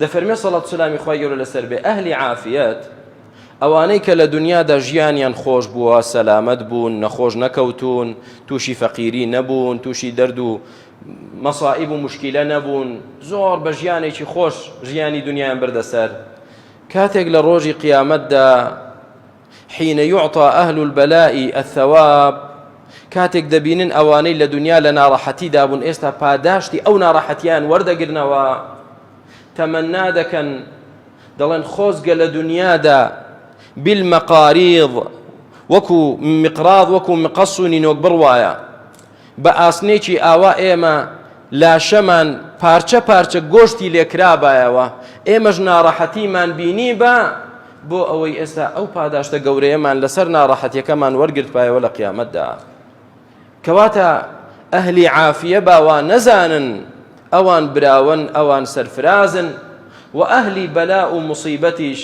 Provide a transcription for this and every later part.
دەفەرمێ سەڵات سلامی خی گەورە لەسەر بێ ئەهلی عافیت ئەوانەی کە لە دنیادا ژیانیان خۆش بووە سەلامت بوون نەخۆش نەکەوتون تووشی فەقیری نەبوون تووشی دەرد و مەسائب و مشکیلە نەبوون زۆر بە ژیانێکی خۆش ژیانی دنیایان بردەسەر کاتێک لە ڕۆژی قیامەتدا حین یعطی اهل البلاء الثواب کاتێک دەبینن ئەوانەی لە دنیا لە ناڕەحەتی دابوون ئێستا پاداشتی ئەو ناڕەحەتیان وەردەگرنەوە تەمەنا دەکەن دەڵێن خۆزگە لە دنیادا بالمەقاریض وەکو مقراض وەکو مقەس و نینۆک بڕوایە بە ئاسنێکی ئاوا ئێمە لاشەمان پارچە پارچە گۆشتی لێکرابایەوە ئێمەش ناڕەحەتیمان بینیبا بۆ ئەوەی ئێستا ئەو پاداشتە گەورەیەمان لەسەر ناڕەحەتیەکەمان وەرگرتبایەوە لە قیامەتدا کەواتە ئەهلی عافیە باوا نەزانن ئەوان براون ئەوان سەرفرازن و ئەهلی بەلا و مصیبەتیش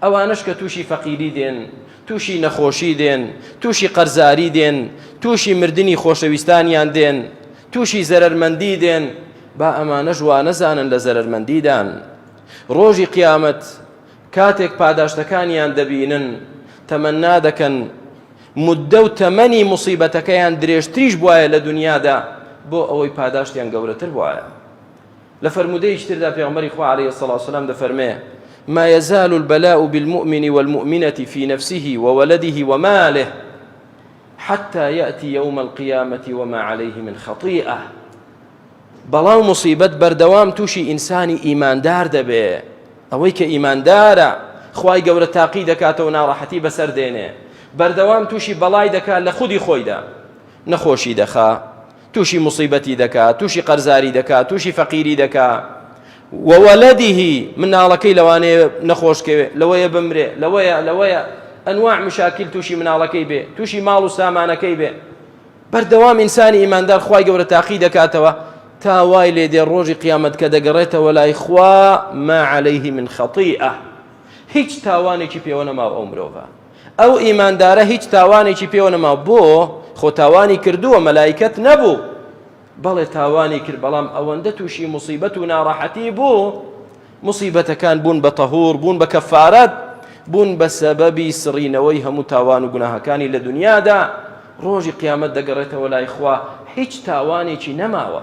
ئەوانەش کە تووشی فەقیری دێن، تووشی نەخۆشی دێن، تووشی قەرزاری دێن، تووشی مردنی خۆشەویستانیان دێن، تووشی زەرەرمەندی دێن، با ئەمانەش وانەزانن لە زەرەرمەندیدان. ڕۆژی قیامەت کاتێک پاداشتەکانیان دەبینن، تەمەنا دەکەن موددە و تەمەنی موسیبەتەکەیان درێژتریش بوایە لە دونیادا، بۆ ئەوەی پاداشتیان گەورەتر بوایە. لە فەرموودەیەکی تردا پێغەمبەری خوا عەلەیهی سڵاو وسلام دەفەرمێ ما يزال البلاء بالمؤمن والمؤمنة في نفسه وولده وماله حتى يأتي يوم القيامة وما عليه من خطيئة بەڵاو مصیبەت بەردەوام تووشی ئینسانی ئیماندار دەبێ ئەوەی کە ئیماندارە خی گەورە تاقی دەکاتەوە ناڕەحەتی بەسەر دێنێ بەردەوام تووشی بەڵای دەکات لە خودی خۆیدا نەخۆشی دەخا توشی موسیبەتی دەکا توشی قەرزاری دەکا توشی فەقیری دەکا وەوەلەدیه مناڵەکەی لەوانەیە نەخۆشکەوێ لەوەیە بمرێ لەوەیە لەوەیە ئەنواع مشاکل توشی مناڵەکەی بێ توشی ماڵ و سامانەکەی بێ بەردەوام ئینسانی ئیماندار خی گەورە تاقی دەکاتەوە تا وای لێ دێ ڕۆژی قیامەت کە دەگەڕێتەوە لای خوا ما عليه من خەتیئە هیچ تاوانێکی پێوە نەماو ئەو مرۆڤە ئەو ئیماندارە هیچ تاوانێکی پێوە نەما بۆ خۆ تاوانی کردووە مەلایکەت نەبوو بەڵێ تاوانی کرد بەڵام ئەوەندە تووشی مصیبەت و ناڕەحەتی بوو مصیبەتەکان بوون بە تەهور بوون بە کەفارەت بوون بە سەبەبی سڕینەوەی هەموو تاوان و گوناهەکانی لە دنیادا ڕۆژی قیامەت دەگەڕێتەوە لای خوا هیچ تاوانێکی نەماوە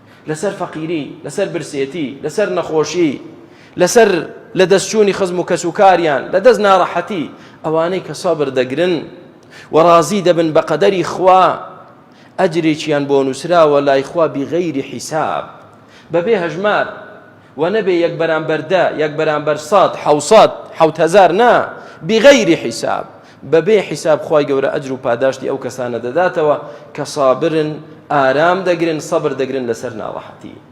لەسەر فەقیری، لەسەر برسێتی، لەسەر نەخۆشی، لەسەر لەدەستچوونی خزم و کەسوکاریان، لەدەست ناڕەحەتی، ئەوانەی کە سەبر دەگرن و ڕازی دەبن بە قەدەری خوا، ئەجرێکیان بۆ نووسراوە لای خوا بغیر حساب، بەبێ هەژمار. وە نەبێ یەک بەرامبەر دە یەک بەرامبەر سەد حەوسەد حەوت هەزار نا بغەیری حیساب بەبێ حیساب خوای گەورە ئەجر و پاداشتی ئەو کەسانە دەداتەوە کە سابرن ئارام دەگرن سەبر دەگرن لەسەر ناڕەحەتی